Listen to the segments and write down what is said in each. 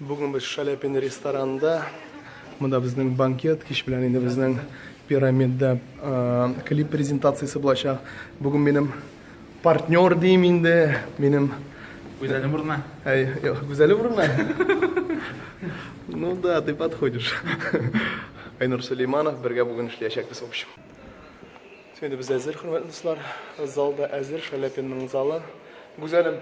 Бүген без Шаляпин ресторанында. Монда безнең банкет, кич белән инде безнең пирамидда клип презентациясе булачак. Бүген минем партнер дим инде, минем Гүзәле урына. Әй, гүзәле урына. Ну да, ты подходишь. Айнур Сулейманов бергә бүген эшләячәкбез в общем. Инде без әзер, хөрмәтле дуслар. Залда әзер, Шаляпинның залы. Гүзәлем,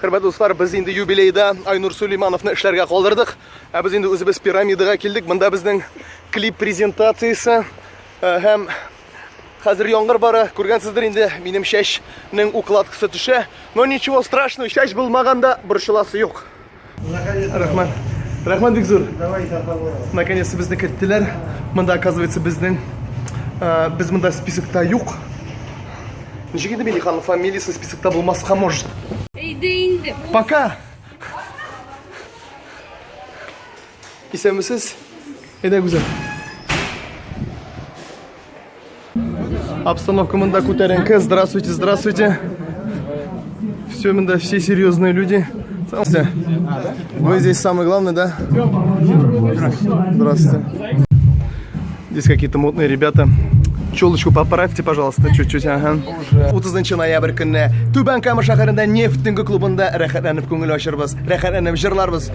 Хөрмәтле дуслар, без инде юбилейда Айнур Сулеймановны эшләргә калдырдык. Ә без инде үзебез пирамидага килдек. Монда безнең клип презентациясе э, һәм хәзер яңгыр бара. Күргәнсездер инде, минем чәчнең укладкасы төшә. Но ничего страшного, чәч булмаганда борчыласы юк. Рәхмәт. Рәхмәт бик зур. Давай, Наконец то безне керттеләр. Монда, оказывается, безнең э, без монда списокта юк. Ничек инде Милиханның фамилиясе списокта булмаска может? Әйдә инде. Пока. Исәнмесез. Әйдә, Гүзәл. Обстановка мында күтәренке. Здравствуйте, здравствуйте. Все мында, все серьезные люди. Вы здесь самый главный, да? Здравствуйте. Здесь какие-то модные ребята. Челочку поправьте, пожалуйста, чуть-чуть, ага. 30 ноябрь көнне Түбән Кама шәһәрендә нефтинг клубында рәхәтләнеп күңел ачырбыз, рәхәтләнеп җырларбыз.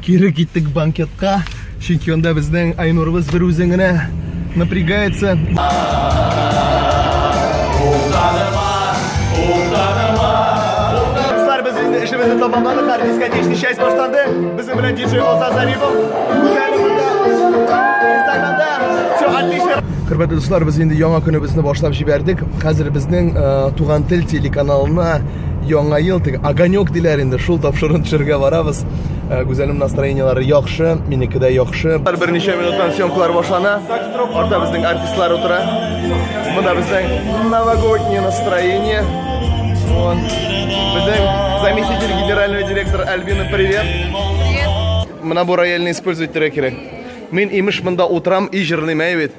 Кире киттек банкетка, чөнки анда безнең Айнурыбыз бер үзен генә напрягается. Кызлар, без инде эшебезне тамамладык, һәр дискотечный часть башланды. Безнең белән диджей Оза Зарипов. Үзәне монда. Инстаграмда. Все, отлично. Хөрмәтле дуслар, без инде яңа көнебезне башлап җибәрдек. Хәзер безнең э, Туган тел телеканалына яңа ел теге огонек диләр инде шул тапшыруны төшерергә барабыз э, гүзәлем настроениелары яхшы минеке дә яхшы берничә минуттан съемкалар башлана артта безнең артистлар утыра монда безнең новогоднее настроение вот безнең заместитель генерального директора альбина привет мына бу рояльны использовать итәргә кирәк мин имеш монда утырам и җырлыйм әй бит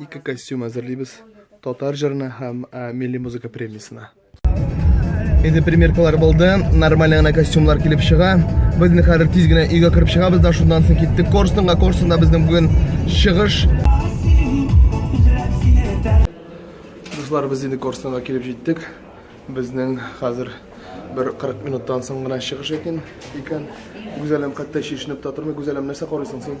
Ике костюм әзерлибез. Татар җырына һәм милли музыка премиясенә. Инде примеркалар булды, нормаль гына костюмлар килеп чыга. Без инде хәзер тиз генә өйгә кереп чыгабыз да шуннан соң киттек Корстонга. Корстонда безнең бүген чыгыш. Дуслар, без инде Корстонга килеп җиттек. Безнең хәзер бер 40 минуттан соң гына чыгыш икән. Гүзәлем хәтта чишенеп тә тормый. Гүзәлем нәрсә карыйсың син?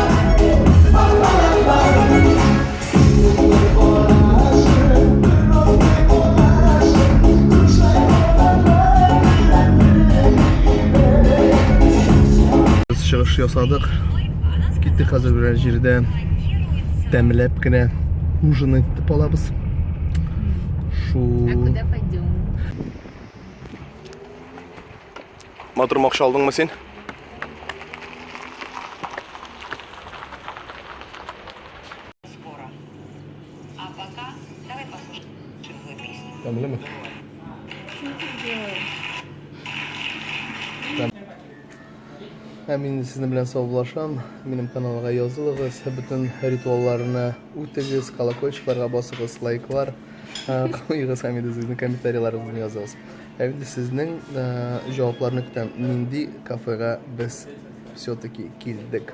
чыгыш ясадык киттек хәзер берәр җирдә тәмләп кенә ужин итеп алабыз шул Матур махша алдыңмы син? Тәмлеме? Ә мин сезнең белән саубулашам. Минем каналга язылыгыз, бөтен ритуалларны үтегез, колокольчикларга басыгыз, лайклар куегыз һәм инде сезнең комментарийларыгызны языгыз. Ә инде сезнең җавапларны көтәм, нинди кафега без все-таки килдек?